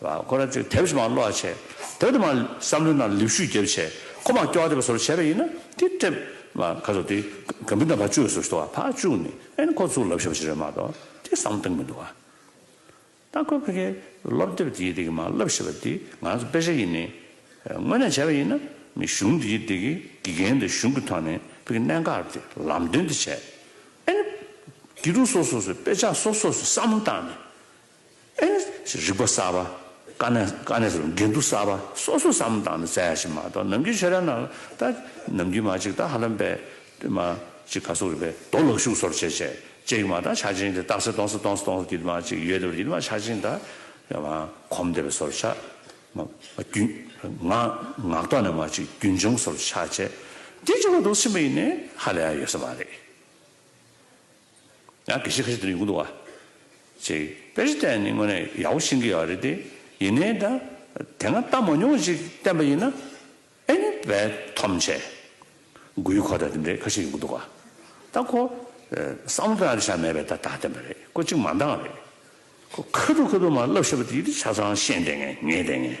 ཁོ་རང་ཚོས་དེབ་བཞི་མང་ཀློག་བྱས། དེབ་དེ་མང་བསམ་བློའི་ནང་ལེབ་བཤུས་རྒྱབ་བྱས། ཁོ་མང་སྐྱོ་བ་དེབ་སོར་བྱས་པ་ཡིན་ན་དེ་དེབ། ཁ་སོར་དེ་ག་མི་ད་ཕར་བཅུག་སོར་ཏོ་ཕར་བཅུག་ནས་ཨེ་ན་ཁོ་ཚུར་ལབ་ཤོར་བ་ཞིག་རེད་མ་གཏོགས་དེ་བསམ་བཏང་མི་འདུག་ཨ། ད་ཁོས་ཕ་གིའི་སློབ་དེབ་དེའི་སྟེང་གི་མང་བསླབ་ཞེས་པ་དེ་ང་རང་ཚོ་དཔེ་ཆ་ཡིན་ནས། དངོས་གནས་བྱས་པ་ཡིན་ན་ནི་གཞུང་དེའི་སྟེང་གི་དགེ་རྒན་དང་གཞུང་གི་ཐོག་ནས་ཕ་གི་གནད་འགག་དེ་ལམ་སྟོན་དེ་བྱས། ཨེ་ན། དགེ་ཕྲུག་སོ་སོ་སོས་དཔེ་ཆ་སོ་སོ་སོས་བསམ་བློ་བཏང་ནས། ཨེས། རིག་པ་གསར་པ། ཀ་ནས་ཀ་ནས་སོ་འགལ་འདུ་གསར་པ་སོ་སོ་བསམ་དང་ནི་བཙལ་ཞིག་མ་གཏོགས་ནམ་རྒྱུན་ཆོས་ར་ན་ད་ནམ་རྒྱུན་མ་གཅིག་ད་ཧ་ལམ་པས་དུས་མ་གཅིག་ག་སོག་རིག་པའི་རྡོ་ལག་ཤུགས་སོར་ཆེ་ཆེ་བཅད་ཡུལ་མ་ད་ཆ་ཆིངས་དེ་བཏགས་ཚེ་སྟོང་ཚེ་སྟོང་ཚེ་སྟོང་ཚེ་དུས་མ་གཅིག་ཡོད་དུ་ཡུལ་མ་ཆ་ཆིངས་ད་ཡོད་མ་གོམས་བདེ་བའི་སོར་ཆ་མ་རྒྱུན་ང་ང་རྟོགས་ནས་མ་གཅིག་རྒྱུན་འབྱུང་སོར་ཆ་ཆེ་དེ་ཅིག་ལ་དུག་ཆེན་པོ་ཡིན་ནས་ཧ་ལས་ཡོད་ས་མ་རེད། ཡང་གེ་ཤི་ཁ་ཤི་དེ་ཡོང་གི་འདུག་བ། ཅེས་དཔེ་ཞིག་བལྟས་ནས་དངོས་གནས་ཡག་པོ་ཤེས་ཀྱི་ཡོད་རེད་དེ། ཡིན་ནའི་ད། དེ་སྔ་བལྟ་མ་མྱོང་ཞིག་བལྟས་པ་ཡིན་ན། Anyway ཐོམ་ཆེ། དགུའི་གོ་བརྡ་དེ་འདྲའི་ཁ་ཤི་ཡོང་གི་འདུག་བ། ད་ཁོ། བསམ་བློ་གཏན་ནས་བཞག་མེད་པའི་ད་ད་བསྟན་པ་རེད་ཁོ་ཅིག་མ་འདང་རེད། ཁོ་ཁ་ཐུག་ཁ་ཐུག་མ་ལབ་ཤོད་པ་དེ་ཡིད་ཆ་ཚང་ཤེས་འདེང་ངེས་འདེང་ངེས།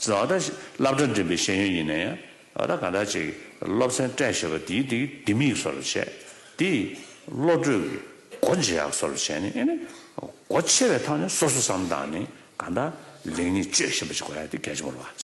བཟའ་ཟླ་བསླབ་གྲྭ་འགྲིམ་པའི་ཤེས་ཡོན་ཡིན་ན་ཡང་ཨ་ད་ག་འདྲ་ཅིག་སློབ་ཚན་སྤྲད་ཞེས་པ་དེའི་དེའི་ལྡེ་མིག་བཟོ་རུ་བྱེད། དེས་བློ་གྲོས་ཀྱི་སྒོ་འབྱེད་ཡག་བཟོ་རུ་བྱེད་ནས་ཨེ་ནས་སྒོ་ཕྱེ་བའི་ཐང་ནས་སོ་སོ་བསམ་སྟངས་ནི་ག་འདྲ་ལེགས་ནི་དཔྱོད་ཤེས་པ་ཅིག་དགོས་ཡ་དེ་གལ་ཆེན་པོ་རེད་བ།